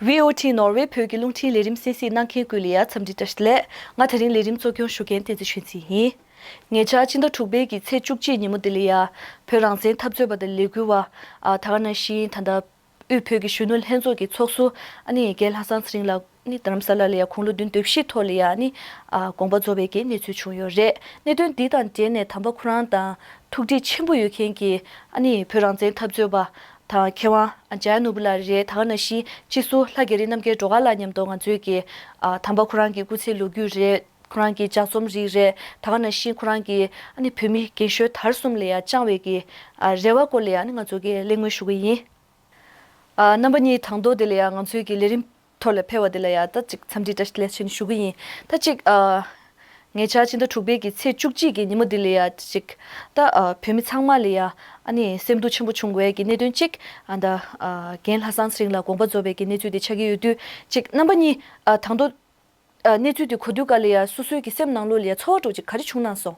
VOT ནོར་ཝེ་བོད་ཀྱི་རླུང་འཕྲིན་ལས་རིམ་སེ་སིས་གནང་མཁན་ཀུའུ་ལི་ཡཱ་འཚམས་འདྲི་བཀྲ་ཤིས་ལས་ང་ད་རིང་ལས་རིམ་གཙོ་སྐྱོང་ཞུ་མཁན་བསྟན་འཛིན་ཆོས་འཛིན་ཡིན། ཉེ་ཆར་སྤྱི་ཟླ་དྲུག་པའི་གི་ཚེས་བཅུ་གཅིག་ཉིན་མོ་ལྡི་ལི་ཡཱ་བོད་རང་བཙན་འཐབ་རྩོད་པ་དང་ལས་འགུལ་བ་ཐ་ཀ་ན་ཤིན་ད་ནྡ་དབུས་བོད་ཀྱི་གཞོན་ནུ་ལྷན་ཚོགས་ཀྱི་ཚོགས་གསོ་ཨནི་ཡེ་གེ་ལྷ་སངས་ཚེ་རིང་ལགས་ནི་རྡ་རམ་ས་ལ་ལི་ཡཱ་ཁུང་ལོ་བདུན་དུས་བཞིའི་ཐོག་ལི་ཡཱ་ནི་དགོངས་པ་རྫོགས་པའི་གི་གནས་ཚུལ་བྱུང་ཡོད་རེད་གནད་དོན་འདི་དང་འབྲེལ་ནས་དམ་པ་ཁོ་རང་དང་ཐུགས་འདྲིས་ཆེན་པོ་ཡོད་མཁན་གི་ཨནི་བོད་རང་བཙན་འཐབ་རྩོད་པ་དང་མཁས་དབང ྋརྒྱལ་ནོར་བུ་ལ་རེ་དྭགས་ན་གཞིས་སྤྱི་སུ་ལྷ་རྒྱ་རི་རྣམ་རྒྱལ་འགྲོ་ག་ལ་ཉམས་རྟོགས་ང་ཚོའི་གི། དམ་པ་ཁོ་རང་གི་སྐུ་ཚེ་ལོ་རྒྱུས་རེད་ཁོ་རང་གི་ལྗགས་རྩོམ་རིགས་རེད་དྭགས་ན་གཞིས་ཁོ་རང་གི་ཨ་ནི་བོད་མི་རྒན་ཤོལ་དར་གསུམ་ལ་ཡང་བཅང་བའི་གི། རེ་བ་སྐོར་ལ་ཡང་ནི་ང་ཚོ་གི་གླེང་མོལ་ཞུ་གི་ཡིན། རྣམ་པ་གཉིས་དང་ཐོག་དེ་ལ་ཡང་ང་ཚོའི་གི་ལས་རིམ། ཐོར་ལས་འཕེལ་བ་དེ་ལ་ཡང་ད་ཅིག་འཚམས་འདྲི་བཀྲ་ལེ་ཆེན་ཞུ་གི་ཡིན། ད་ཅིག། ངེད་ཅག་སྤྱི་ཟླ་དྲུག་པའི་གི་ཚེས་བཅུ་གཅིག་གི་ཉིན་མོ་འདི་ལ་ཡང་ད་ཅིག། ད་བོད་མི་ཚང་མ་ལ་ཡང་ཨ་ནི་སེམས་སྡུག་ཆེན་པོ་བྱུང་བས་གི་གནད་དོན་གཅིག། ད། རྒན་ལྷ་སངས་རིང་ལ་དགོངས་པ་རྫོགས་པའི་གི་གནས་ཚུལ་དེ་ཆགས་ཀྱི་ཡོད་དུས་ཅིག་རྣམ་པ་གཉིས། དང་དོ། གནས་ཚུལ་དེ་གོ་དུས་ག་ལ་ཡང་སོ་སོའི་གི་སེམས་ནང་ལུས་ལ་ཡང་ཚོར་བ་དྲུག་ཅིག་ག་རེ་བྱུང་སྣང་སོང།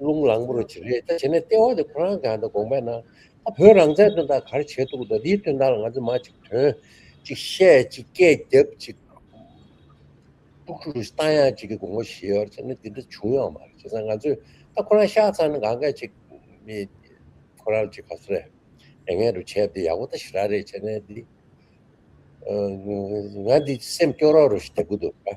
རླུང་ལངས་པོ་རུ་བྱེད་རེས་ད་བྱེད་ནས་ལྟེ་བ་དེ་ཁོ་རང་གང་ད་དགོངས་པས་ན་ད་བོད་རང་བཙན་དོན་དག་གར་བྱེད་འདུག་ད་འདིའི་དོན་དག་ལ་ང་ཚོས་མ་ཅིག་དོན་ཅིག་བཤད་ཅིག་སྐད་རྒྱབ་ཅིག་དཀྲུག་དཀྲུག་རུ་བཏང་ཡང་ཅིག་གི་དགོངས་པ་བཞེས་ཡོད་བྱས་ནས་འདི་འདྲ་བྱུང་ཡོད་མ་རེད་བྱས་ཙང་ང་ཚོས་ད་ཁོ་རང་ཤག་ཚང་ནས་གང་སྐད་ཅིག་མི་ཁོ་རང་ཅིག་ག་ཚོད་རེད་རེ་ངན་རུ་བྱས་འདི་ཡག་པོ་ད་ཞི་ར་རེད་བྱས་ནས་འདི་ང་འདི་སེམས་སྐྱོ་རོགས་རུ་བྱེད་དགོས་འདུག་ག།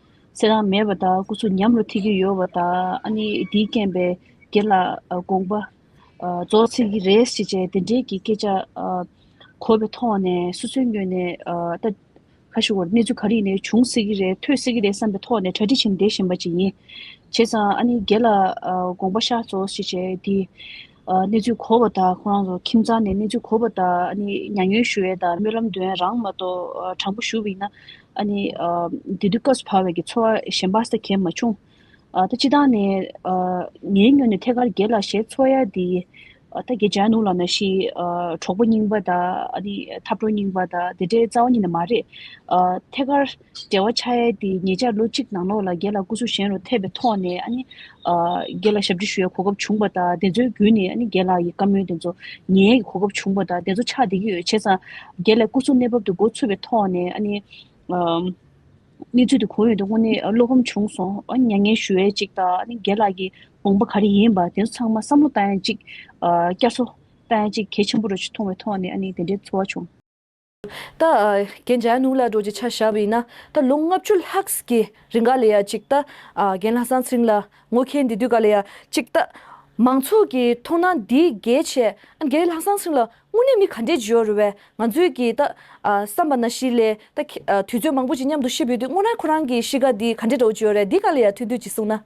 ཚེ་རང་མེད་པ་དག་སྐུ་གཟུགས་ཉམས་ལ་ཐིག་གི་ཡོལ་བ་དག་ཨ་ནི་དེའི་རྐྱེན་པས་དགེ་ལ་དགོངས་པ། རྫོགས་ཚིག་གི་རེས་ཅི་བྱས་དེ་འབྲེལ་གྱི་སྐད་ཆ། གོ་བའི་ཐོག་ནས་སོ་སོའི་སྨྱོས་ནས་ལྟ། ཁ་ཤི་བར་གནས་ཚུལ་ག་རིགས་ནས་བྱུང་སྲིད་ཀྱི་རེད་ཐོས་སྲིད་ཀྱི་རེད་བསམ་པའི་ཐོག་ནས་གྲ་སྒྲིག་བྱེད་འདེད་བཞིན་པ་ཅིག་ཡིན། བྱས་ཙང་ཨ་ནི་དགེ་ལ་དགོངས་པ་ཤ་རྫོགས་ཞེས་བྱས་དེ། གནས་ཚུལ་གོ་བ་དང་ཁོང་རང་ཚོ་ཁྱིམ་ཚང་ནས་གནས་ཚུལ་གོ་བ་དང་མྱ་ངན་ཞུ་བའི་དང་སྨོན་ལམ་འདོན་ཡ་རང་མ་གཏོགས་དྲང་པོ་ཞུ་བ་ཡིན་ན། དེ་དུས་སྐབས་སུ་བབས་བས་ཀྱི་འཚོ་བ་གཞན་པ་ས་གས་མ་བྱུང། ད་སྤྱི་དང་ནས་ངའི་སྨྱོ་ནས་ཐད་ཀར་རྒྱལ་ལ་ཞལ་འཚོ་ཡ་དེ། ད་རྒྱལ་བྱ་ནུ་ལ་ན་ཤི་གྲོགས་པོ་རྙིང་པ་དང་འཐབ་གྲོགས་རྙིང་པ་དང་དེ་འདྲའི་རྩ་བ་ཉིད་ནས་མ་རེད། ཐད་ཀར། འབྲེལ་བ་ཆགས་ཡས་དེ་ཉེ་ཆར་ལོ་གཅིག་ནང་ལོགས་ལ་སྒེར་ལ་སྐུ་གཟུགས་གཞན་རུ་ཐེབས་པའི་ཐོག་ནས་སྒེར་ལ་ཞབས་ཕྱི་ཞུ་ཡའི་གོ་སྐབས་བྱུང་བ་དང་དེ་ཚོའི་བརྒྱུད་ནས་སྒེར་ལ་ཡི་བཀའ་མོལ་དེ་ཚོ་ཉན་ཡས་ཀྱི་གོ་སྐབས་བྱུང་བ་དང་དེ་ཚོ་ཕྱག་འདེབས་ཀྱི་ཡོད་བྱས་ཙང་སྒེར་ལའི་སྐུ་གཟུགས་གནས་བབ་དེ་མགོ་ཚུད་པའི་ཐོག་ནས་གནས་ཚུལ་དེ་གང་ཡོད་དེ་དངོས་གནས་བློ་ཕམ་བྱུང་སོང་མྱ་ངན་ཞུ་ཡས་ཅིག་དང་སྒེར་ལ་ཡི་དགོངས་པ་ག་རེ་ཡིན་པ་དེ་ཚོ་ཚང་མ་བསམ་བློ་བཏང་ཡས་ཅིག་བསྐྱར་གསོ་བཏང་ཡས་ཅིག་གལ་ཆེན་པོ་རེད་ཅེས་མཐོང་བའི་ཐོག་ནས་དེ་འདྲའི་ཚོར་བ་བྱུང། ད་རྒན་རྒྱལ་ནུ་ལ་འགྲོ་རྒྱུ་ཆ་བཞག་པ་ཡིན་ན་ད་ལོ་ལྔ་བཅུ་ལྷག་གི་རིང་ག་ལ་ཡ་གཅིག་ད་རྒན་ལྷ་སང་ཚིང་ལ་ངོ་ཁེལ་འདི་དུས་ག་ལ་ཡ་གཅིག་ད་མང་ཚོགས་ཀྱི་མཐོང་སྣང་འདི་གལ་ཆེ་ཨ་རྒན་ལྷ་སང་ཚིང་ལ་དངོས་གནས་མི་ག་འདྲས་འབྱོར་བས་ང་ཚོས་ཀྱི་ད་བསམ་པ་ན་གཞི་ལས་ད་དུས་ཚོད་མང་པོ་ཅིག་མཉམ་དུ་ཤི་བོས་དུས་སྔོ་ན་ཁོ་རང་གི་གཤིས་ཀ་འདི་ག་འདྲས་འགྲོ་འགྱོ་རེད་འདི་ག་ལ་ཡ་ཐུག་དུས་ཀྱི་གསུང་ན།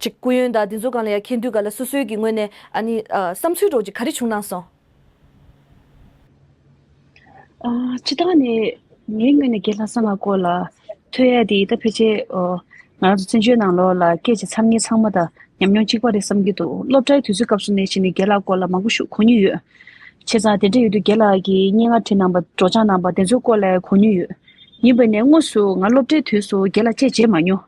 ཅིག་སྐུ་ཡོན་དང་དེ་ཚོ་གང་ལ་ཡང་མཁྱེན་དུས་ག་ལ་སོ་སོའི་གི་ངོས་ནས་ཨ་ནི་བསམ་ཚུལ་སྒྲོག་ཅིག་ག་རེ་བྱུང་གནང་སོང། སྤྱི་བཏང་ནས་ངའི་ངོས་ནས་རྒན་ལྷ་ས་མ་སྐོར་ལ་ཐོས་ཡས་དེ་ཡི་ད་ཕལ་ཆེར་ང་རང་ཚོ་བཙན་བྱོལ་ནང་ལོག་ལ་སྐད་ཆ་འཚམ་ངེ་ཚང་མ་དང་ཉམས་མྱོང་གཅིག་པ་རེད་བསམ་གྱི་འདུག་སློབ་གྲྭའི་དུས་ཚོད་སྐབས་སུ་ནས་ཞིག་ནས་རྒན་ལགས་སྐོར་ལ་མང་པོ་ཞུ་གོ་མྱོང་ཡོད། བྱས་ཙང་དེ་འདྲ་ཡོད་དུས་རྒན་ལགས་ཀྱི་སྙན་ངག་བྲིས་གནང་པ་སྒྲོག་སྦྱངས་གནང་པ་དེ་ཚོའི་སྐོར་ལས་གོ་མྱོང་ཡོད། ཡིན་པས་ནས་དངོས་སུ་ང་སློབ་གྲྭའི་དུས་སུ་རྒན་ལ་དཔྱད་བྱས་མ་མྱོང།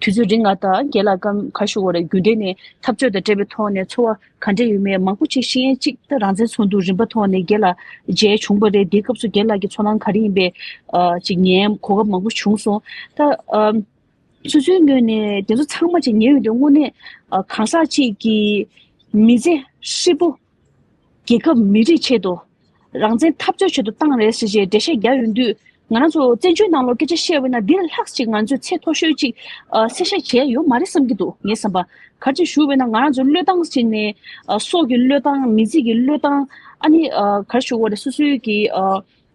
དུས་ཚོད་རིང་ལ་དང་རྒྱལ་ལ་སྐབས་ཁ་ཤོ་བོ་ལ་རྒྱུ་འབྲས་ནི་འཐབ་རྩོད་དང་བྲལ་བའི་ཐོག་ནས་འཚོ་བ་ག་འདྲ་ཡོད་མེད་མང་པོ་ཆེ་ཤེས་ཡན་གཅིག་ད་རང་བཙན་ཚོགས་འདུ་རིམ་པ་ཐོག་ནས་རྒྱལ་ལ་མཇལ་བྱུང་བ་རེད་དེའི་སྐབས་སུ་རྒྱལ་ལགས་ཀྱི་ཚོར་སྣང་ག་རེ་ཡིན་པའི་ཅིག་ཉན་གོ་སྐབས་མང་པོ་བྱུང་སོང་ད། སོ་སོའི་ངོས་ནས་དེ་ཚོ་ཚང་མ་ཅིག་ཉན་ཡོད་དུས་དངོས་གནས་གང་ཟག་ཅིག་གི་མི་ཚེ་ཧྲིལ་པོ། རྒྱལ་ཁབ་མི་རིགས་ཆེད་དུ། རང་བཙན་འཐབ་རྩོད་བྱེད་དུ་བཏང་རེད་ཟེར་བཞིན་འགྲེལ་བཤད་རྒྱག་ཡོང་དུས། ང་རང་ཚོ་བཙན་བྱོལ་ནང་ལོག་སྐད་ཆ་བཤད་འོས་ན་འདིར་ལྷགས་ཅིག་ང་ཚོས་ཚད་མཐོ་ཤོས་ཅིག་གསལ་བཤད་བྱས་ཡོད་མ་རེད་བསམ་གྱི་འདུག་ངས་བསམ་པ། གར་ཅིག་ཞུ་འོས་ན་ང་རང་ཚོའི་བློས་བཏང་ཞིག་ནས། སྲོག་གི་བློས་བཏང་མི་ཚིག་གི་བློས་བཏང། ཨ་ནི། གར་ཞུ་འོ་རེད་སོ་སོའི་གི།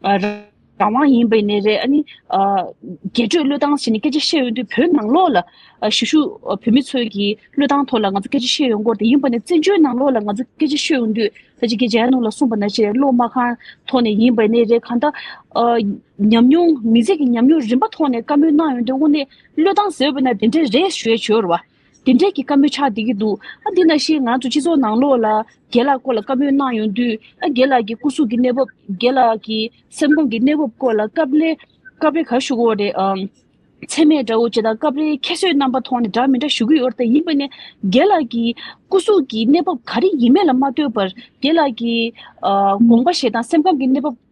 རང་དབང་ཡིན་པའི་ནས་རེད་ཨ་ནི། རྒྱས་སྤྲོས་བློས་བཏང་བྱས་ནས་སྐད་ཆ་བཤད་ཡོང་དུས་བོད་ནང་ལོགས་ལ། ཞུ་ཞུ་བོད་མི་ཚོས་ཀྱིས་བློས་བཏང་ཐོག་ལ་ང་ཚོ་སྐད་ཆ་བཤད་ཡོང་སྐོར་དེ་ཡིན་པ་ནས་བཙན་བྱོལ་ནང་ལོགས་ལ་ང་ཚོ་སྐད་ཆ་ཤོད་ཡོང་དུས་ས་ཆི་ཀའི་རྗེ་ཡར་ཀླུང་ལ་གསུངས་པ་ན་ཆེས་བློ་མ་ཁང་ཐོག་ནས་ཡིན་པའི་ནས་རེད་གང་ལྟར། ཉམས་མྱོང་མི་ཚེ་གི་ཉམས་མྱོང་རིམ་པ་ཐོག་ནས་བཀའ་མོལ་གནང་ཡོང་དུས་དངོས་གནས་བློས་བཏང་ཟེར་བས་ན་དེ་འདྲ་རེད་ཞེས་བརྗོད་རོགས། དེ་འབྲེལ་གྱི་བཀའ་མོལ་ཆགས་བསྡད་ཀྱི་འདུག་ཨ་འདི་ན་ཤེས་ང་ཚོ་སྤྱི་ཚོགས་ནང་ལོགས་ལ་རྒན་ལགས་སྐོར་ལ་བཀའ་མོལ་གནང་ཡོང་དུས་ཨ་རྒན་ལགས་ཀྱི་སྐུ་གཟུགས་ཀྱི་གནས་བབ་རྒན་ལགས་ཀྱི་སེམས་ཁོང་གི་གནས་བབ་སྐོར་ལ་སྐབས་རེ་སྐབས་རེ་གར་ཞུ་གི་འོ་རེད་ཨང། ཚད་མས་འདྲ་འོ་ཅེས་དང་སྐབས་རེ་ཁྱད་གསོད་རྣམ་པ་མཐོང་ནས་འདྲ་མི་འདྲ་ཞུ་གི་ཡོད་རེད་ཡིན་པ་ནས་རྒན་ལགས་ཀྱི་སྐུ་གཟུགས་ཀྱི་གནས་བབ་ག་རེ་ཡིན་མེད་ལ་མ་ལྟོས་པར་རྒན་ལགས་ཀྱི་དགོངས་པ་བཞེས་དང་སེམས་ཁམས་ཀྱི་གནས་བབ།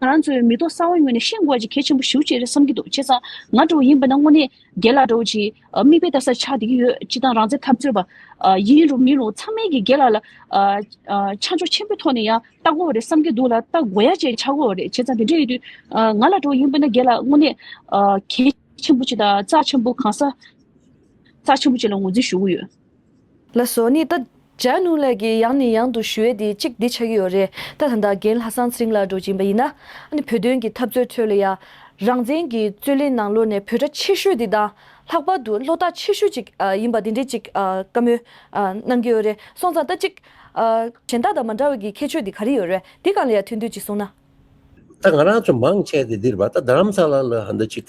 ང་རང་ཚོའི་མི་ཐོག་གསར་བ་ངོས་ནས་ཤེས་དགོས་པ་ཅིག་གལ་ཆེན་པོ་ཞུ་ཅེས་བསམ་གྱི་འདུག་བྱས་ཙང་ང་དྲུག་བ་ཡིན་པ་ན་དངོས་གནས་རྒྱལ་ལགས་དྲུག་བྱིས་མིག་དཔེ་ལྟ་སར་ཆགས་བསྡད་ཀྱི་ཡོད་སྤྱི་བཏང་རང་བཙན་འཐབ་རྩོད་པ་ཡིན་རུང་མིན་རུང་ཚང་མའི་གིས་རྒྱལ་ལགས་ལ་ཆ་འཇོག་ཆེན་པོའི་ཐོག་ནས་ཡང་ལྟ་དགོས་བ་རེད་བསམ་གྱི་འདུག་ལ་ལྟ་དགོ་ཡ་བཅས་ཆགས་དགོས་བ་རེད་བྱས་ཙང་དེ་འདྲ་ཡོད་དུས་ང་ལ་དྲུག་བ་ཡིན་པ་ན་རྒྱལ་ལགས་དངོས་གནས་གལ་ཆེན་པོ་ཅིག་དང་རྩ་ཆེན་པོ་གང་ས་རྩ་ཆེན་པོ་ཅིག་ལ་ངོས་འཛིན་ཞུ་གི་ཡོད། ལ་སོགས་ནི་ལྟ། སྦྱར་ནུས་ལས་ཀྱི་ཡང་ནས་ཡང་དུ་ཞུ་བས་དེ་གཅིག་འདི་ཆགས་ཀྱི་ཡོད་རེད་ལྟ་ད་ལྟ་རྒན་ལྷ་སང་ཚེ་རིང་ལགས་འགྲོ་གྱིན་པ་ཡིན་ན། བོད་དོན་གྱི་འཐབ་རྩོད་ཁྲོད་ལ་ཡང། རང་བཙན་གྱི་རྩོད་ལེན་ནང་ལོག་ནས་བོད་གྲྭ་ཆེ་ཤོས་དེ་དང། ལྷག་པར་དུ་ལྷོ་སྟག་ཆེ་ཤོས་ཅིག་ཡིན་པ་དེ་འདྲས་ཅིག་བཀའ་མོལ། གནང་གི་ཡོད་རེད་སོང་ཙང་ལྟ་གཅིག། གཞན་དག་དང་མ་འདྲ་བའི་གི་ཁྱད་ཆོས་དེ་ག་རེ་ཡོད་རེད་དེ་གང་ལ་ཡང་ཐུག་འདོད་ཅིག་གསུངས་ན། ལྟ་ང་རང་ཚོ་མང་ཆེ་དེ་འདིར་བ་ལྟ་རྡ་རམ་ས་ལ་ལ་ཧ་འདྲ་ཅིག།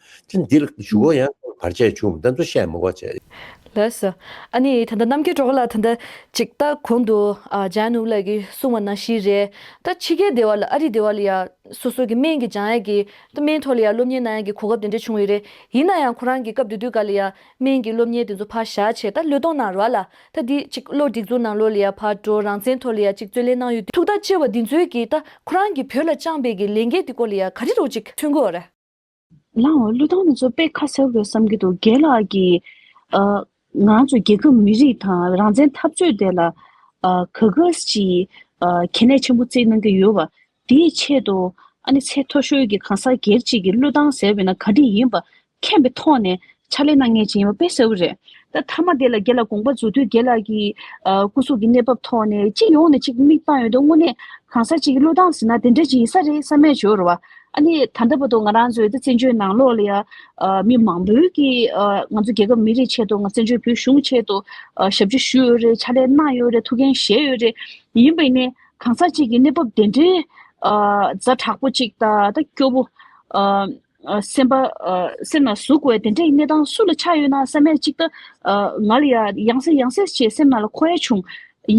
ཅི་འདི་ལ་ཞུ་གོ་ཡང་ཁོང་བར་ཆད་བྱུང་བདེན་ཚོ་བཤད་མི་གོ་བྱས། ལགས་སོ། ཨ་ནི་ད་ལྟ་གནམ་གྱི་གྲོགས་ལ་ད་ལྟ་ཅིག་ལྟ་གོང་དུ་ལྗང་ནུབ་ལགས་ཀྱི་གསུང་བ་ན་ཤི་རེད་ད་ཕྱི་རྒྱལ་སྡེ་བ་ལ་ཨ་རི་སྡེ་བ་ལ་ཡང་སོ་སོ་གི་སྨན་གྱི་ལྗང་ཡག་གི་ད་སྨན་ཐོག་ལ་ཡང་སློབ་གཉེར་གནང་ཡག་གི་གོ་སྐབས་དེ་འདྲ་བྱུང་ཡོད་རེད་ཡིན་ན་ཡང་ཁོ་རང་གི་སྐབས་དེ་དུས་ག་ལ་ཡང་སྨན་གྱི་སློབ་གཉེར་དེ་ཚོ་ཕར་བཞག་བྱས་ད་ལོས་སྟོང་ནང་ར་ལ་ད་འདི་ཅིག་བློ་སྒྲིག་འཛུགས་གནང་ལོ་ལ་ཡང་ཕར་འགྲོ་རང་བཙན་ཐོག་ལ་ཡང་ཅིག་རྩོད་ལེན་གནང་ཡོད་དུས་ཐུགས་ཐག་བཅད་བ་འདི་ཚོའི་གི་ད་ཁོ་རང་གི་བོད་ལ་བཅངས་པའི་གི་ལས་འགན་དེ་སྐོར་ལ་ཡང་ག་རེ་རོགས་ཅིག་མཚོན་དགོས་རེད། ལའོ་ཀླུ་ཐང་ནས་ཚོ་དཔེ་ཁ་གསལ་བོ་རེད་བསམ་གྱི་འདུག་རྒན་ལགས་ཀྱིས། ང་ཚོ་རྒྱལ་ཁབ་མི་རིགས་དང་རང་བཙན་འཐབ་རྩོད་དེ་ལ་ག་གཱས་ཀྱིས་གལ་གནད་ཆེན་པོ་བརྩིས་གནང་གི་ཡོད་པ། དེའི་ཆེད་དུ་ཨ་ནེ་ཚེ་མཐོ་ཤོས་ཀྱིས་གང་ཟག་སྒེར་གཅིག་གི་ཀླུ་ཐང་ཟེར་བས་ན་ག་དེ་ཡིན་པ་མཁྱེན་པའི་ཐོག་ནས་ཕྱག་ལེན་ན་ངེས་ཅན་ཡིན་པ་དཔེ་གསལ་བོ་རེད། ད་མཐའ་མ་དེ་ལ་དགེ་ལ་དགོངས་པ་རྫོགས་དུས་དགེ་ལགས་ཀྱིས། སྐུ་གཟུགས་ཀྱི་གནས་བབ་ཐོག་ནས་སྤྱི་ཡོངས་ནས་ཅིག་མིག་བཏང་ཡོད་འདུག་དངོས་གནས་གང་ཟག་ཅིག་གི་བློས་བཏང་ཟིན་ན་དེ་འདྲ་ཅིག་ཡིན་ས་རེད་བསམ་མེད་བྱོས་རོགས། ཨ་ནི་ད་ལྟ་བར་དུ་ང་རང་ཚོའི་ད་བཙན་བྱོལ་ནང་ལོགས་ལ་ཡང། མི་མང་པོས་ཀྱིས་ང་ཚོ་རྒྱལ་ཁབ་མི་རིགས་ཆེད་དུ་ང་བཙན་བྱོལ་བོད་གཞུང་ཆེད་དུ། ཞབས་ཕྱི་ཞུས་ཡོད་རེད་ཕྱག་ལས་གནང་ཡོད་རེད་ཐུགས་འགན་བཞེས་ཡོད་རེད། ཡིན་པས་ནི་གང་ཟག་ཅིག་གི་གནས་བབ་དེ་འདྲའི། རྫ་དྲག་པོ་ཅིག་ད་ལྟ་སྐྱོ་བོ། སེམས་པ། སེམས་ལ་ཟུག་བའི་དེ་འདྲའི་གནས་སྟངས་སུ་ལ་ཆགས་ཡོད་ན་སྲན་མས་གཅིག་ལྟ། ང་ལ་ཡང་ཡང་སྲན་ཡང་སྲན་ཞེས་སེམས་ནང་ལ་འཁོར་ཡ་བྱུང།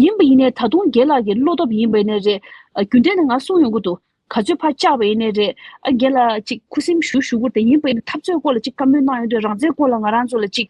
ཡིན་པ་ཡིན་ནའི་ད་དུང་རྒན་ལགས་ཀྱི་བློ་སྟོབས་ཡིན་པའི་ནས་རེད། རྒྱུ་འབྲས་ནི་ང་གསུང་ཡོང་གི་འདུག་ག་ཚོད་ཕར་བཅག་པའི་ནས་རེད། རྒན་ལགས་ཅིག་ཁུ་སིམ་ཞུ་ཞུ་བོར་དེ་ཡིན་པ་ཡིན་ན་འཐབ་རྩོད་སྐོར་ལ་ཅིག་བཀའ་མོལ་གནང་ཡོང་དུས་རང་བཙན་སྐོར་ལ་ང་རང་ཚོ་ལ་ཅིག།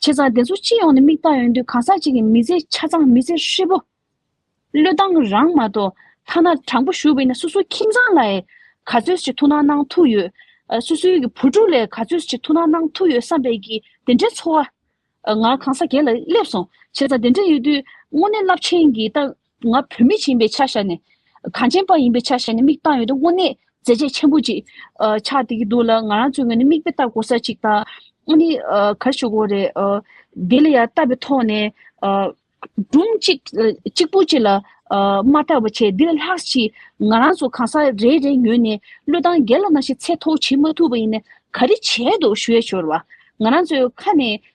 བྱས་ཙང་དེ་ཚོ་སྤྱི་ཡོངས་ནས་མིག་ལྟ་ཡོང་དུས་གང་ཟག་གཅིག་གི་མི་ཚེ་ཆ་ཚང་མི་ཚེ་ཧྲིལ་པོ། བློས་བཏང་རང་མ་གཏོགས་ཐ་ན་དྲང་པོ་ཞུ་བས་ན་སོ་སོའི་ཁྱིམ་ཚང་ལ་ཡི་ག་ཚོད་ཅིག་ཐུགས་སྣང་གནང་ཐུབ་ཡོད། སོ་སོའི་ཡི་གེ་བུ་ཕྲུག་ལས་ག་ཚོད་ཅིག་ཐུགས་སྣང་གནང་ཐུབ་ཡོད་བསམ་པས་ཀྱིས་དེ་འདྲའི་ཚོར་བ། ང་གང་ཟག་གེ་ལ་སླེབས་སོང་བྱས་ཙང་དེ་འདྲ་ཡོད་དུས་དངོས་གནས་རླབས་ཆེན་གྱི་རྟགས། ང་བོད་མི་ཡིན་པའི་ཆ་བཞག་ནས། གངས་ཅན་པ་ཡིན་པའི་ཆ་བཞག་ནས་མིག་བཏང་ཡོད་དོ་དངོས་གནས་མཛད་རྗེས་ཆེན་པོ་ཅིག་ཆགས་བསྡད་ཀྱི་འདུག་ལ་ང་རང་ཚོའི་ངོས་ནས་མིག་དཔེ་ལྟ་དགོས་ས་ཅིག་དང། ཨ་ནི་གར་ཞུ་དགོས་རེད། དེ་ལ་ཡང་བལྟ་བའི་ཐོག་ནས། སྒྲུང་གཅིག་པོ་གཅིག་ལ་མ་བལྟ་བར་ཆད་འདི་ལ་ལྷག་ཅིག་ང་རང་ཚོ་གང་ཟག་རེ་རེའི་ངོས་ནས་བློས་བཏང་རྒྱ་ལ་ནང་བཞིན་ཚད་མཐོ་བོ་བྱེད་མ་ཐུབ་པ་ཡིན་ན་ག་རེ་བྱས་འདུག་ཞུ་ཡ་ཤོར་བ། ང་རང་ཚོའི་ཁ་ནས་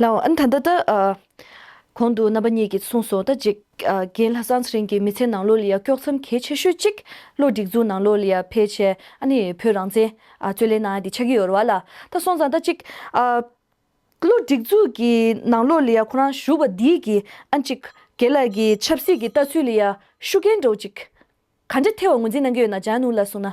ལའང་ད་ལྟ་ལྟར། གོང་དུ་རྣམ་པ་གཉིས་ཀྱིས་གསུངས་སོང་ལྟར་འཇིག་རྒན་ལྷ་སངས་རིན་གྱི་མི་ཚེ་ནང་ལོ་ལ་ཡང་དཀྱོགས་མཚམས་གལ་ཆེ་ཤོས་གཅིག་བློ་སྒྲིག་འཛུགས་ནང་ལོ་ལ་ཡང་ཕལ་ཆེར་ནི་བོད་རང་བཙན་རྩོད་ལེན་ནང་དེ་ཆགས་ཀྱི་ཡོད་རེད་ལ། ད་སོང་ཙང་ལྟར་གཅིག། བློ་སྒྲིག་འཛུགས་ཀྱི་ནང་ལོ་ལ་ཡང་ཁོ་རང་ཞུགས་པ་དེས་ཀྱི་ཨ་འཇིག་རྒན་ལགས་ཀྱི་ཆབ་སྲིད་ཀྱི་ལྟ་ཚུལ་ལ་ཡང་ཤུགས་རྐྱེན་འགྲོ་གཅིག་ག་འདྲ་ཐེབས་བ་ངོས་འཛིན་གནང་གི་ཡོད་ན་བྱང་སྣུར་ལ་གསུངས་ན།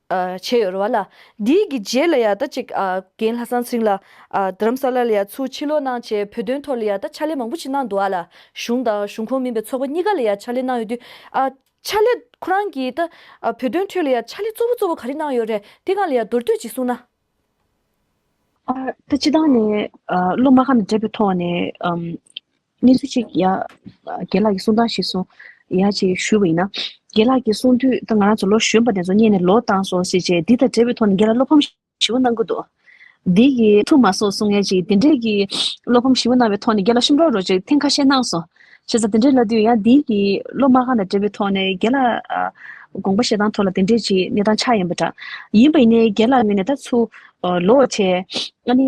བྱས་ཡོད་རེད་བ་ལ། དེའི་གི་རྗེས་ལ་ཡང་ད་ཅིག་རྒན་ལྷ་སང་ཚིང་ལ། དྷརམ་ས་ལ་ལ་ཡང་ཚུར་ཕྱིར་ལོག་གནང་བྱས་བོད་དོན་ཐོག་ལ་ཡང་ད་ཕྱག་ལས་མང་པོ་ཞིག་གནང་འདུག་བ་ལ། གཞུང་དང་གཞུང་ཁོངས་མིན་པའི་ཚོགས་པ་གཉིས་ཀ་ལ་ཡང་ཕྱག་ལས་གནང་ཡོད་དུས། ཕྱག་ལས་ཁོ་རང་གིས་ད་བོད་དོན་ཁྲོད་ལ་ཡང་ཕྱག་ལས་གཙོ་བོ་གཙོ་བོ་ག་རེ་གནང་ཡོད་རེད་དེ་གང་ལ་ཡང་མདོར་བསྡུས་ཅིག་གསུང་ན། ད་སྤྱི་བཏང་ནས་སློབ་མ་ཁམས་བསྒྲེས་པའི་ཐོག་ནས། གནས་ཚུལ་གཅིག་ཡ། རྒན་ལགས་ཀྱིས་གསུངས་སྟངས་ཤིག་གསུངས། ཡ་ཅིག་ཞུས་པ་ཡིན་ན། རྒན་ལགས་ཀྱིས་གསུངས་དུས་ད་ང་རང་ཚོ་ལོ་གཞོན་པ་དེ་ཚོ་རྙེད་ནས་ལོ་བཏང་སོང་ཟེར་རྗེས་འདི་དང་འབྲེལ་བའི་ཐོག་ནས་རྒན་ལགས་བློ་ཕམ་ཞི་བ་གནང་གི་འདུག་འདི་ཡི་ཐུགས་མ་སོགས་གསུངས་ཡ་ཅིག་དེ་འབྲེལ་གྱི་བློ་ཕམ་ཞི་བ་གནང་བའི་ཐོག་ནས་རྒན་ལགས་ཤོམ་རོགས་རོགས་ཅིག་ཐེངས་ཁ་ཤས་གནང་སོང་ཞེས་སོགས་དེ་འབྲེལ་ལབ་དུས་ཡང་འདི་ཡི་སློབ་མ་གང་དང་འབྲེལ་བའི་ཐོག་ནས་རྒན་ལགས་དགོངས་པ་བཞེས་སྟངས་ཐོག་ལ་དེ་འབྲེལ་གྱི་གནས་སྟངས་ཆགས་ཡོད་པ་འདྲ། ཡིན་པ་ཡིན་ནའི་རྒན་ལགས་ངོས་ནས་ད་ཚུ་ལོ་ཆེ། ཨ་ནི།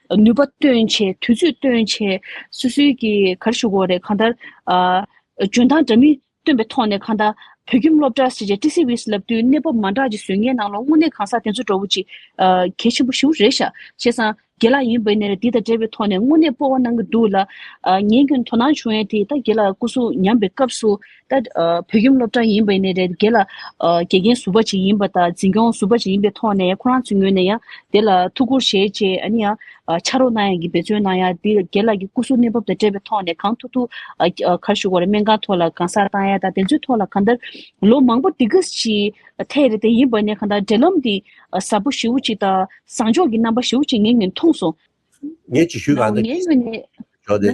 ནུས་པ་སྟོན་ཆེད་དུས་ཚོད་སྟོན་ཆེད་སུད་སུའི་གི་གར་ཞུ་གོ་རེད་གང་ལྟར། འཇོན་ཐང་འདྲ་མིན་སྟོན་པའི་ཐོག་ནས་གང་ལྟར་བོད་ཁྱིམ་སློབ་གྲྭ་ཞེས་བྱ་ཏི་སི་ཝིས་ལབ་དུས་གནས་བབ་མ་འདྲ་གྱི་ཟོལ་ངན་ནང་ལོག་དངོས་གནས་གང་ཟག་དེ་ཚོ་འགྲོ་བོ་ཅི། གལ་ཆེན་པོ་ཞུ་རེད་ཤག་བྱས་སང་དགེ་ལགས་ཡིན་བས་ནས་རེད་འདི་དང་འབྲེལ་བའི་ཐོག་ནས་དངོས་གནས་སྤོ་བ་གནང་གི་འདུག་ལ། ངའི་ཁྱོད་དོ་སྣང་བྱུང་ཡས་དེ་ད་དགེ་ལགས་སྐུ་སྲུང་ཉམས་པའི་སྐབས་སུ་ད་བོད་ཁྱིམ་སློབ་གྲྭ་ཡིན་པ་ནས་རེད་གལ་ལ་དགེ་རྒན་ཟུར་པ་ཞིག་ཡིན་པ་དང་འཛིན་སྐྱོང་ཟུར་པ་ཞིག་ཡིན་པའི་ཐོག་ནས་ཁོ་རང་ཚོའི་ངོས་ནས་ཡང་དེ་ལ་ཐུགས་ཁུར་བཞེས་རྗེས་ཨ་ནི་ཡང་ཕྱག་རོགས་གནང་ཡ་གི་འབད་བརྩོན་གནང་ཡ་དེ་དགེ་ལགས་ཀྱི་སྐུ་གཟུགས་གནས་བབ་དང་འབྲེལ་བའི་ཐོག་ནས་གང་ཐུག་ཐུག་གར་ཞུགས་པ་རེད་སྨན་ཁང་ཐོག་ལ་གང་སར་བཏང་ཡ་དང་དེ་ཚོའི་ཐོག་ལ་གང་ལྟར་ལོ་མང་པོ་དེ་ག་ཞིག་ཐལ་རེད་དེ་ཡིན་པ་ནས་གང་ལྟར་འབྲེལ་ལམ་དེ་ཟབ་པོ་ཞེ་བོ་ཅིག་དང་བཟང་ཕྱོགས་ཀྱི་རྣམ་པ་ཞེ་བོ་ཅིག་ངེད་ངས་མཐོང་སོང། ངས་ཅིག་ཞུས་གང་ཐུབ་ཀྱིས་ཞུས་ཆོག་དེ།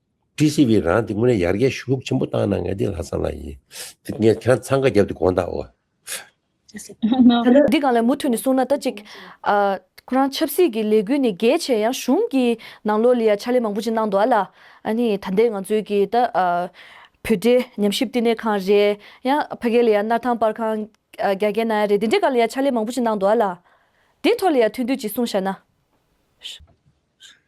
ཀྲི་སི་བྷི་རང་འདི་དངོས་གནས་ཡར་རྒྱས་ཤུགས་ལོག་ཆེན་པོ་བཏང་ན་ང་འདི་ལྷག་བསམ་ལ་ཡིན། འདི་ངས་ཁྱེད་རང་འཚང་ཁ་བརྒྱབ་སྟེ་དགོངས་དག་འོ། ད་ལོ། འདི་གང་ལས་མུ་མཐུད་ནས་གསུང་ན་ད་ཅིག། ཁོ་རང་ཆབ་སྲིད་ཀྱི་ལས་འགུལ་ནས་རྒྱལ་ཆེ་ཡང་གཞུང་གི་ནང་ལོག་ལ་ཡང་ཕྱག་ལས་མང་པོ་ཅིག་གནང་འདུག་ཨ་ལ། ཨ་ནི་ད་ལྟའི་ང་ཚོའི་གི་ད། བོད་འབྲེལ་ཉམས་ཞིབ་བསྟི་གནས་ཁང་རེད་ཡང་ཕ་གའི་ལ་ཡང་སྣར་ཐང་དཔར་ཁང། རྒྱ་རྒྱལ་ནང་ཡང་རེད་འདི་འདྲའི་ག་ལ་ཡང་ཕྱག་ལས་མང་པོ་ཅིག་གནང་འདུག་ཨ་ལ། དེའི་ཐོག་ལ་ཡང་ཐུགས་འདོད་ཅིག་གསུང་བཞག་ན།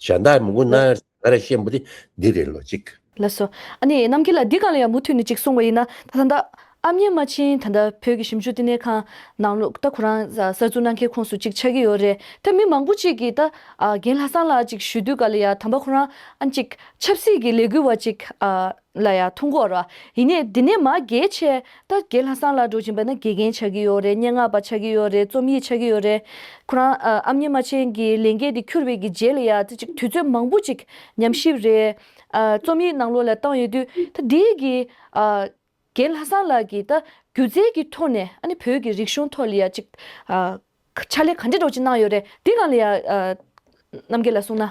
གཞན་དག་མི་མགོ་ན་ལ་ང་ར་ཤེས་མོ་དེ་འདི་རེད་ལོ་ཅིག། ལགས་སོ། ཨ་ནེ་རྣམ་རྒྱལ་ལ་འདི་གང་ལ་ཡང་མུ་མཐུད་ནས་ཅིག་གསུང་བ་ཡིན་ན་ད་ད་ལྟ་ཨ་མྱེས་མ་ཆིན་ད་ལྟ་བོད་ཀྱི་ཞིབ་འཇུག་བསྟི་གནས་ཁང་ནང་ལོག་ལྟ་ཁོ་རང་གསར་འཛུགས་གནང་མཁན་ཁོངས་སུ་ཅིག་ཆགས་ཀྱི་ཡོད་རེད་ད་མི་མང་པོ་ཅིག་གིས་ད་རྒན་ལྷ་བཟང་ལགས་ཅིག་ཞུས་དུས་ག་ལ་ཡ་དམ་པ་ཁོ་རང་ཨ་ཅིག་ཆབ་སྲིད་ཀྱི་ལས་འགུལ་བ་ཅིག་ཨ། ལ་ཡང་ཐུག་འགོ་ར། ཡིན་ནས་འདི་ནས་མ་དགེ་ཆེ། ད་དགེ་ལྷ་སང་ལ་འགྲོ་བཞིན་པ་ན་དགེ་རྒན་ཆགས་ཀྱི་ཡོད་རེད་སྙན་ངག་པ་ཆགས་ཀྱི་ཡོད་རེད་རྩོམ་ཡིག་ཆགས་ཀྱི་ཡོད་རེད། ཁོ་རང་ཨ་མྱེས་རྨ་ཆེན་གྱི་ལས་འགན་དེ་འཁྱུར་བའི་གི་རྗེས་ལ་ཡང་ད་ཅིག་དུས་ཚོད་མང་པོ་ཅིག་ཉམས་ཞིབ་རེ། རྩོམ་ཡིག་ནང་ལོག་ལ་བཏང་ཡོད་དུས་ད་དེའི་གི། དགེ་ལྷ་སང་ལགས་ཀྱིས་ད་སྒྱུ་རྩལ་གྱི་ཐོག་ནས་ཨ་ནི་བོད་ཀྱི་རིག་གཞུང་ཐོག་ལ་ཡང་ཅིག། ཕྱག་ལས་ག་འདྲེ་སྒྲོག་ཅིག་གནང་ཡོད་རེད་དེ་གང་ལ་ཡང། རྣམ་རྒྱལ་ལ་གསུངས་ན།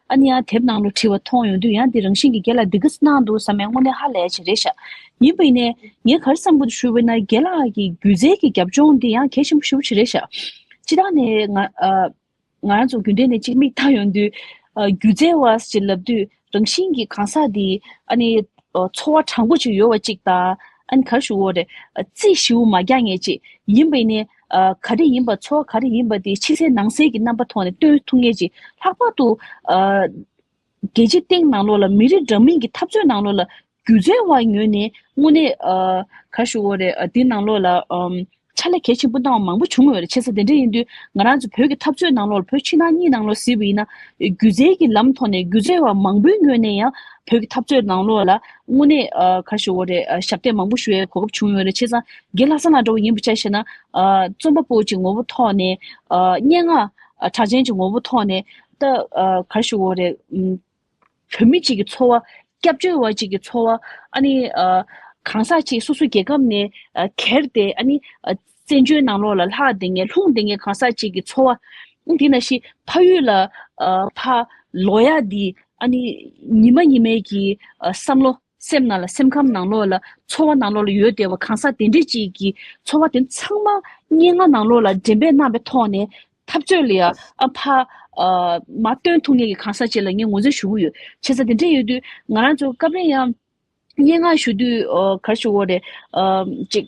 ཨ་ནི་ཡང་དེབ་ནང་ལོ་བྲིས་བ་མཐོང་ཡོང་དུས་ཡང་འདི་རང་བཞིན་གྱི་རྒྱལ་ལ་སྡིག་གིས་གནང་འདུག་བསམ་མའི་དངོས་གནས་ཧ་ལས་ཆེ་རེད་ཤག་ཡིན་པ་ཡིན་ནའི་ངས་གར་བསམ་ཀུན་ཏུ་ཞུ་བས་ན་རྒྱལ་ལགས་ཀྱི་སྒྱུ་རྩལ་གྱི་རྒྱབ་ལྗོངས་འདི་ཡང་གལ་ཆེན་པོ་ཞིག་པོ་ཆེ་རེད་ཤག་སྤྱི་ལྟར་ནས་ང་ང་རང་ཚོ་རྒྱུན་ལྡན་ནས་གཅིག་མིག་ལྟ་ཡོང་དུས་སྒྱུ་རྩལ་བ་ཞེས་ལབ་དུས་རང་བཞིན་གྱི་གང་ཟག་འདི་ཨ་ནི་འཚོ་བ་དྲང་པོ་ཅིག་ཡོད་བ་ཅིག་དང་ཨ་ནི་གར་ཞུ་བོ་རེ་རྩིས་ཞིབ་བོ་མ་རྒྱག་ངེས་ཅིག་ཡིན་པ་ཡིན་ནའི་ག་རེ་ཡིན་པ་ཚོར་བ་ག་རེ་ཡིན་པ་དེ་ཕྱི་གསལ་ནང་གསལ་གྱི་རྣམ་པ་ཐོག་ནས་སྟོན་ཐུབ་ངེས་ཀྱི་ལྷག་པར་དུ། རྒྱལ་སྤྱིའི་སྟེང་ནང་ལོགས་ལ་མི་རིགས་འདྲ་མིན་གྱི་འཐབ་རྩོད་ནང་ལོགས་ལ་སྒྱུ་རྩལ་བ་ངོས་ནས་དངོས་གནས། གར་ཞུ་བོ་རེད་དེ་ནང་ལོགས་ལ་ཕྱག་ལས་གལ་ཆེན་པོ་གནང་བ་མང་པོ་བྱུང་ཡོད་རེད་ཆེ་ས་དེ་འདྲ་ཡིན་དུས་ང་རང་ཚོ་བོད་ཀྱི་འཐབ་རྩོད་ནང་ལོགས་ལ་བོད་ཕྱི་ནང་གཉིས་ནང་ལོགས་གཟིགས་པ་ཡིན་ན། སྒྱུ་རྩལ་གྱི་ལམ་ཐོག་ནས་སྒྱུ་རྩལ་བ་མང་པོའི་ངོས་ནས་ཡང་བོད་ཀྱི་འཐབ་རྩོད་ནང་ལོགས་ལ་དངོས་གནས་གར་ཞུ་བོ་རེད་ཞབས་འདེགས་མང་པོ་ཞུ་བའི་གོ་སྐབས་བྱུང་ཡོད་རེད་ཆེ་ས་དགེ་ལྷ་ས་ན་འགྲོ་བ་ཡིན་པར་བྱ་ཞེ་ན། རྩོམ་པ་པོ་ཀྱི་ངོ་བོ་ཐོག་ནས། སྙན་ངག་གྲགས་ཅན་གྱི་ངོ་བོ་ཐོག་ནས། ད་གར་ཞུ་འོ་རེད། བོད་མི་གཅིག་གི་འཚོ་བ། སྐྱབས་བཅོལ་བ་གཅིག་གི་འཚོ་བ། ཨ་ནི། གང་ཟག་གཅིག་སོ་སོའི་རྒྱལ་ཁབ་ནས། གྱེར་ཏེ་ཨ་ནི། བཙན་བྱོལ་ནང་ལོགས་ལ་ལྷག་དེ་ངས་ལྷུང་དེ་ངས་གང་ཟག་གཅིག་གི་འཚོ་བ། དེ་ན་ཞིག་ཕ་ཡུལ་ལ། ཕ། ལོ་ཡག་འདི། ཨ་ནི། ཉི་མ་ཉི་མའི་གྱི། བསམ་བློ། སེམས་ནང་ལ་སེམས་ཁམས་ནང་ལོགས་ལ་ཚོར་བ་ནང་ལོགས་ལ་ཡོད་བདེ་བ་གང་ཟག་དེ་འདྲས་ཅིག་གིས་ཚོར་བ་དེ་ཚང་མ་སྙན་ངག་ནང་ལོགས་ལ་འདྲེན་པའི་རྣམ་པའི་ཐོག་ནས་འཐབ་རྩོད་ལ་ཡང་ཨ་ཕ། མ། སྟོན་ཐུབ་ངེས་ཀྱི་གང་ཟག་ཅིག་ལ་ངས་ངོས་འཛིན་ཞུ་གི་ཡོད། བྱས་ཙང་དེ་འདྲས་ཡོད་དུས་ང་རང་ཚོ་སྐབས་རེ་ཡང་སྙན་ངག་ཞུ་དུས་གར་ཞུ་བོ་རེ། ཅིག།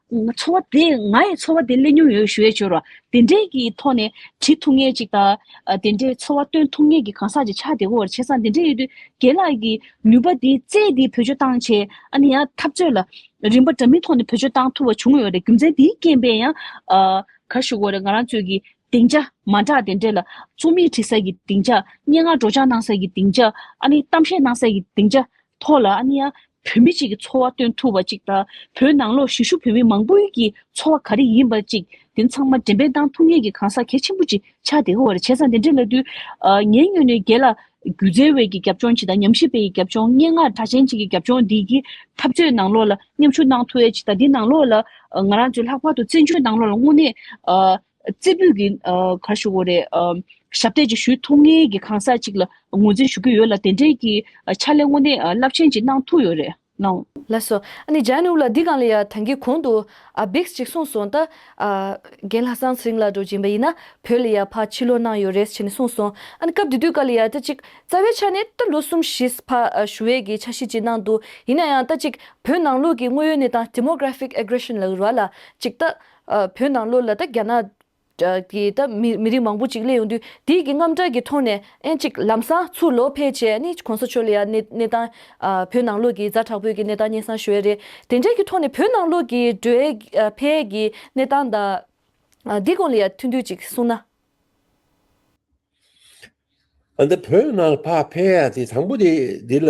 འཚོ་བ་དེ་ང་ཡི་འཚོ་བ་དེ་གླེང་མྱོང་ཡོད་ཞུ་ཡས་འབྱོར་བ་དེ་འདྲས་ཀྱི་ཐོག་ནས་བྲིས་ཐུབ་ངེས་ཅིག་དང། དེ་འདྲའི་འཚོ་བ་སྟོན་ཐུབ་ངེས་ཀྱི་གང་ཟག་ཅིག་ཆགས་བདེ་བོར་བྱས་ཙང་དེ་འདྲས་ཡོད་དུས་རྒན་ལགས་ཀྱི་ནུས་པ་དེ་རྩལ་དེ་བེད་སྤྱོད་བཏང་ཆེད་ཨ་ནི་ཡང་འཐབ་རྩོད་ལ་རིམ་པ་འདྲ་མིན་ཐོག་ནས་བེད་སྤྱོད་བཏང་ཐུབ་པ་བྱུང་ཡོད་རེད་རྒྱུ་མཚན་དེའི་རྐྱེན་པས་ཡང། གར་ཞུགས་འོག་རེད་ང་རང་ཚོས་ཀྱི་སྡིངས་ཆ། མ་འདྲ་དེ་འདྲས་ལ། རྩོམ་ཡིག་བྲི་ས་ཀྱི་སྡིངས་ཆ། སྙན་ངག་སྒྲོག་སྦྱངས་གནང་ས་ཀྱི་སྡིངས་ཆ། ཨ་ནི་གཏམ་བཤད་གནང་ས་ཀྱི་སྡིངས་ཆ། ཐོག་ལ་ཨ་ནི་ཡ། བོད་མི་གཅིག་གི་འཚོ་བ་སྟོན་ཐུབ་པ་ཅིག་དང། བོད་ནང་ལོག་གཞིས་བཞུགས་བོད་མི་མང་པོའི་ཀྱི་འཚོ་བ་ག་རེ་ཡིན་པ་ཅིག་དེ་ཚང་མ་འགྲེམས་སྤེལ་གནང་ཐུབ་ངེས་ཀྱི་གང་ཟག་གལ་ཆེན་པོ་ཅིག་ཆགས་དེ་ཧོར་བྱས་ཙང་དེ་འདྲས་ལ་དུས། ངའི་སྨྱོས་ནས་རྒྱལ། སྒྱུ་རྩལ་བས་ཀྱི་རྒྱབ་ལྗོངས་ཅིག་དང་ཉམས་ཞིབ་པས་ཀྱི་རྒྱབ་ལྗོངས་སྙན་ངག་གྲགས་ཅན་ཅིག་གི་རྒྱབ་ལྗོངས་འདི་ཀྱི་འཐབ་རྩོད་ནང་ལོག་ལ་མཉམ་ཞུགས་གནང་ཐུབ་ཡས་ཅིག་དང་འདི་ནང་ལོག་ལ། ང་རང་ཚོའི་ལྷག་པར་དུ་བཙན་བྱོལ་ནང་ལོག་ལ་དངོས་གནས། རྩེ་ཕུད་ཀྱི་གར་ཞུ་བོ་རེ། ཞབས་སྟེགས་ཀྱི་ཞུས་ཐུགས་ངལ་གྱི་གང་ཟག་ཅིག་ལ་ངོས་འཛིན་ཞུ་གི་ཡོད་ལ་དེ་འབྲེལ་གྱི་ཕྱག་ལས་དངོས་གནས་རླབས་ཆེན་ཅིག་གནང་ཐུགས་ཡོད་རེད་སྣང། ལགས་སོ། ཨ་ནི་ཇཱན་ཨུ་ལ་འདི་གང་ལ་ཡ་ཐང་གི་གོང་དུ་ཨ་བེགས་ཅིག་གསུངས་སོང་ད། རྒན་ལྷ་སངས་སིང་ལ་འགྲོ་གྱིན་པ་ཡིན་ན་བོད་ལ་ཡ་ཕ་ཕྱི་ལོག་གནང་ཡོད་རེད་ཅེས་ནས་གསུངས་སོང། ཨ་ནི་སྐབས་དེ་དུས་ག་ལ་ཡ་ད་ཅིག་རྩ་བའི་ཆ་ནས་ད་ལོ་གསུམ་བཞིས་ཕ་ཞུ་བས་ཀྱི་ཆ་ཤས་ཅིག་གནང་འདུག་ཡིན་ན་ཡང་ད་ཅིག་བོད་ནང་ལུགས་ཀྱི་དངོས་ཡོད་གནས་སྟངས Demographic Aggression ལ་འུར་བ་ལ་ཅིག་ད། བོད་ནང་ལོ་ལ་ད་རྒྱ་ནག་གི་ད་མི་རིགས་མང་པོ་ཅིག་སླེབས་ཡོང་དུས་དེའི་གི་རྔམ་སྐྲག་གི་ཐོག་ནས་ཨེ་གཅིག་ལམ་སང་ཚུར་ལོག་ཕེ་བྱས་ནི་གོང་ས་ཆོས་ལ་ཡ་གནས་གནས་སྟངས་བོད་ནང་ལོག་གི་རྫ་དྲག་པོའི་གི་གནས་སྟངས་སྙན་སང་ཞུ་ཡ་རེད་དེ་འདྲའི་གི་ཐོག་ནས་བོད་ནང་ལོག་གི་འགྲོའི་ཕེ་གི་གནས་སྟངས་ད་འདི་གོང་ལ་ཡ་ཐུན་ཐུན་ཅིག་གསུང་ན། འདི་བོད་ནང་ཕ་ཕེ་ཡ་དེ་དང་པོ་དེ་འདི་ལ།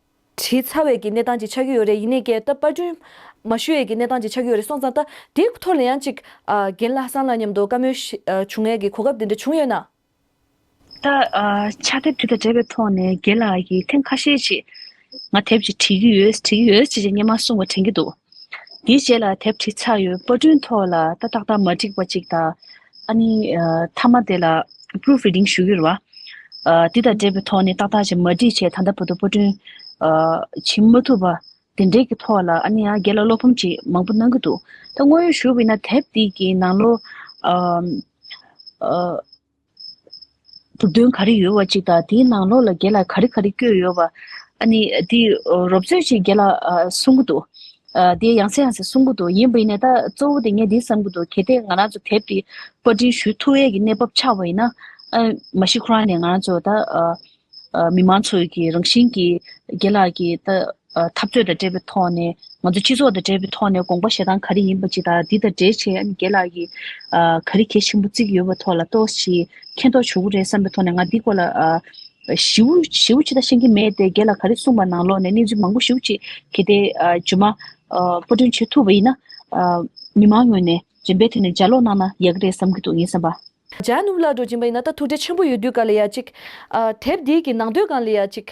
བྲིས་ཚར་བའི་གི་གནས་སྟངས་ཅིག་ཆགས་ཀྱི་ཡོད་རེད་ཡིན་ནའི་སྐད་བཏབ་པར་སྐྲུན་མ་ཞུས་ཡས་གི་གནས་སྟངས་ཅིག་ཆགས་ཀྱི་ཡོད་རེད་སོང་ཙང་ད་དེའི་ཐོག་ལ་ཡང་ཅིག་རྒན་ལྷ་བསང་ལགས་མཉམ་དུ་བཀའ་མོལ་བྱུང་ཡས་གི་གོ་སྐབས་དེ་འདྲ་བྱུང་ཡོད་ན། ད་ཕྱག་དེབ་དེ་དང་འབྲེལ་བའི་ཐོག་ནས་རྒན་ལགས་ཀྱིས་ཐེངས་ཁ་ཤས་ཅིག་ང་དེབ་ཅིག་བྲིས་ཀྱི་ཡོད་བྲིས་ཀྱི་ཡོད་ཅེས་ཅེས་སྙན་མ་གསུངས་པ་དྲན་གྱི་འདུག་དེའི་རྗེས་ལ་དེབ་ཁྲི་ཚ་ཡོད་པར་སྐྲུན་ཐོག་ལ་ཏག་ཏག་མ་འགྲིག་པ་གཅིག་དང། ཨ་ནི། མཐའ་མ་དེ་ལ Proof Reading ཞུ་རྒྱུར། དེ་དང་འབྲེལ་བའི་ཐོག་ནས་ཏག་ཏག་ཅིག་མ་འགྲིག་ཆེད་ད་ལྟ་བོད་དུ་པར་སྐྲུན། བྱེད་མ་ཐུབ་པ་དེ་འབྲེལ་གྱི་ཐོག་ལ་ཨ་ནི་ཡང་སྒེར་ལ་བློ་ཕམ་ཅིག་མང་པོ་གནང་གི་འདུག་ད་དངོས་ཡོད་ཞུ་བས་ན་དེབ་འདི་གི་ནང་ལོ། མཛུབ་སྟོན་ག་རེ་ཡོད་བ་ཅིག་དང་དེའི་ནང་ལོགས་ལ་རྒྱལ་ལ་ག་རེ་ག་རེ་བསྐྱོད་ཡོད་བ། ཨ་ནི་དེ་རོབ་ཚོད་ཅིག་རྒྱལ་ལ་གསུང་གི་འདུག་དེ་ཡང་སེ་ཡང་སེ་གསུང་གི་འདུག་ཡིན་བ་ཡིན་ནས་ད་གཙོ་བོ་དེ་ངས་འདི་བསམ་གི་འདུག་གལ་ཏེ་ང་རང་ཚོ་དེབ་དེ་པར་འབྲི་ཞུ་ཐུ་ཨེ་གི་གནས་བབ་ཆགས་བ་ཡིན་ན། མ་གཞི་ཁོ་རང་ནས་ང་རང་ཚོ་ད། མི་དམངས་ཚོས་ཀྱི་རང་བཞིན་གྱི་དགེ་ལགས་ཀྱི་འཐབ་རྩོད་དང་འབྲེལ་བའི་ཐོག་ནས་ང་ཚོ་སྤྱི་ཚོགས་དང་འབྲེལ་བའི་ཐོག་ནས་དགོངས་པ་བཞེས་སྟངས་ག་རེ་ཡིན་པ་ཅིག་དང་འདི་དང་འབྲེལ་བྱེད་དགེ་ལགས་ཀྱི་ག་རེ་གལ་ཆེན་པོ་བརྩིགས་ཡོད་པ་ཐོག་ལ་གཏོགས་ཤིག་མཁྱེན་རྟོགས་བྱུང་རེད་བསམ་པའི་ཐོག་ནས་ང་འདི་སྐོར་ལ་ཞིབ་ཞིབ་ཅིག་ད་ཤེས་ཀྱི་མེད་དེ་དགེ་ལགས་ག་རེ་གསུངས་པ་ནང་ལོགས་ནས་གནས་ཚུལ་མང་པོ་ཞིབ་ཅིག་གལ་ཏེ་རྗུན་མ་པོ་དོན་བྱེད་ཐུབ་པ་ཡིན་ན་མི་དམངས་ངོས་ནས་རིམ་པས་དེ་ནས་ལྗགས་ཀློག་གནང་ན་ཡག་གི་རེད་བསམ་གྱི་འདུག་ངས་བསམ་པ། འཇའ་ནུབ་ལ་འགྲོ་གྱིན་པ་ཡིན་ན་ད་ཐུགས་རྗེ་ཆེན་པོ་ཡོད་དུས་ག་ལ་ཡ་ཅིག། དེབ་འདི་གི་ནང་དོན་གང་ལ་ཡ་ཅིག།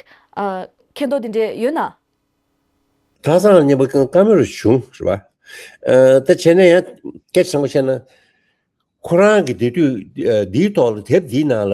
མཁས་མདོག་འདི་འདྲས་ཡོད་ན། ཐགས་བཟང་སྙན་པོ་ཀང་ཀ་མོ་རུ་བྱུང་ཟེར་བ། དེ་བྱས་ན་ཡང་སྐད་ཆ་ཆེན་པོ་བཤད་ན། ཁོ་རང་གི་དེ་དུས་འདིའི་ཐོག་ལ་དེབ་འདིའི་ནང་ལ་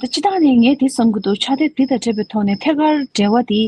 ད་ཅི་ཐག་ནས་ངས་དེ་བསམ་གི་འདུག་ཆ་དེ་དེ་དང་འཕྲད་པའི་ཐོག་ནས་ཐད་ཀར་འབྲེལ་བ་དེ་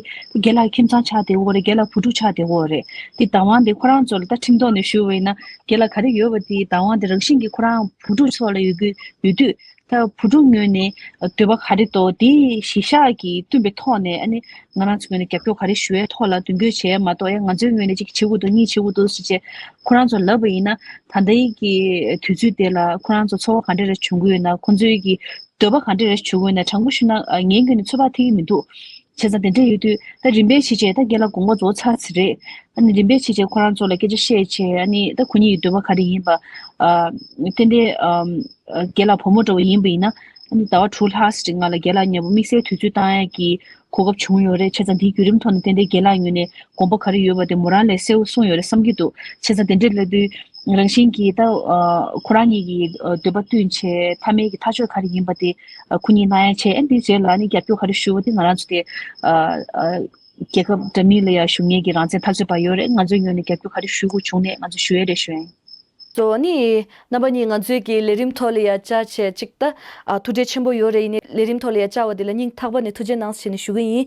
དགེ་ལགས་ཁྱིམ་ཚང་ཆགས་བདེ་བོ་རེད་དགེ་ལགས་བུ་ཕྲུག་ཆགས་བདེ་བོ་རེད་དེ་བདག་དབང་དེ་ཁོ་རང་ཚོ་ལ་ད་ཁྲིམས་ཐོག་ནས་ཞུ་བ་ཡིན་ན་དགེ་ལགས་ག་རེ་ཡོད་པ་དེ་བདག་དབང་དེ་རང་བཞིན་གྱིས་ཁོ་རང་བུ་ཕྲུག་ཚོ་ལ་ཡོད་ཀྱི་ཡོད་དུས་ད་བུ་ཕྲུག་ངོས་ནས་འདོད་པ་ག་རེ་དོ་དེ་གཞི་བཞག་གིས་བསྟུན་པའི་ཐོག་ནས་ཨ་ནི་ང་རང་ཚོ་ངོས་ནས་རྒྱབ་སྐྱོར་ག་རེ་ཞུ་བའི་ཐོག་ལ་མདུན་སྐྱོད་བྱས་མ་གཏོགས་ཡ་ང་ཚོའི་ངོས་ནས་གཅིག་བྱེད་དགོས་འདུག་གཉིས་བྱེད་དགོས་འདུག་ཟེར་བྱས་ཁོ་རང་ཚོ་ལབ་པ་ཡིན་ན་ད་ལྟའི་གི་དུས་ཚོད་དེ་ལ་ཁོ་རང་ཚོ་ཚོར་བ་ག་འདྲ་རེ་བྱུང་གི་ཡོད་ན་ཁོ་ཚོའི་གི་འདོད་པ་ག་འདྲ་རེ་བྱུང་གི་ཡོད་ན་དྲང་པོ་ཞུས་ན་ངའི་གི་ནི་ཚོད་དཔག་ཐིག་གི་མི་འདུག་བྱས་ཙང་དེ་འདྲ་ཡོད་དུས་ད་རིམ་པས་ཕྱིན་ཆད་ད་རྒན་ལགས་དགོངས་པ་རྫོགས་ཚར་ཚེ་རེད་ཨ་ནི་རིམ་པས་ཕྱིན་ཆད་ཁོ་རང་ཚོ་ལ་སྐད་ཆ་བཤད་ཆེད་ཨ་ནི་ད་ཁོ་གཉིས་ཀྱི་འདོད་པ་ག་རེ་ཡིན་པ་ཨ་ཏན་ཏན་རྒན་ལགས་བུ་མོ་འདྲ་བོ་ཡིན་པ་ཡིན་ན་ཨ་ནི་ཟླ་བ་དྲུག་ལྷག་ཟེར་ཏེ་ང་ལ་རྒན་ལགས་མྱང་པོ་དམིགས་བསལ་དུས་ཚོད་བཏང་ཡ་གི་གོ་སྐབས་བྱུང་ཡོད་རེད་ཁྱེད་ཚང་འདིའི་བརྒྱུད་རིམ་ཐོག་ནས་དེ་འདྲའི་རྒྱལ་ལགས་ཉོས་ནས་དགོངས་པ་ག་རེ་ཡོད་པ་དེ་མོ་རང་ལས་གསལ་བོ་གསུངས་ཡོད་རེད་བསམ་གྱི་འདུག་ཁྱེད་ཚང་དེ་འདྲའི་སླེབས་དུས་རང་བཞིན་གྱིས་ད་ཁོ་རང་ཉིད་ཀྱིས་འདོད་པ་བསྟུན་ཆེད་ཐ་མལ་གྱི་ཐག་ཆོད་ག་རེ་ཡིན་པ་དེ་ཁོ་གཉིས་གནང་ཡ་ཆེད་འདི་བྱས་ལ་ནི་རྒྱབ་སྐྱོར་ག་རེ་ཞུ་བ་དེ་ང་རང་ཚོ་དེ་རྒྱལ་ཁབ་འདྲ་མིན་ལ་ཡང་ཞུ་ཉེན་གྱི་རང་བཙན་ཐག་ཆོད་པ་ཡོད་རེད་ང་ཚོའི་ངོས་ནས་རྒྱབ་སྐྱོར་ག་རེ་ཞུ་དགོས་བྱུང་ནས་ང་ཚོ་ཞུ་ཡ་རེད་བྱོན། གཙོ་བོ་ནི། རྣམ་པ་གཉིས་ང་ཚོས་ཀྱི་ལས་རིམ་ཐོག་ལ་ཡར་བསྐྱར་བྱས་གཅིག་ད་ཐུགས་རྗེ་ཆེན་པོ་ཡོད་རེ་ཡིན་ནས་ལས་རིམ་ཐོག་ལ་ཡར་བསྐྱར་བ་དེ་ལ་སྙིང་ཐག་པ་ནས་ཐུགས་རྗེ་གནང་ཞེས་ནས་ཞུ་གི་ཡིན།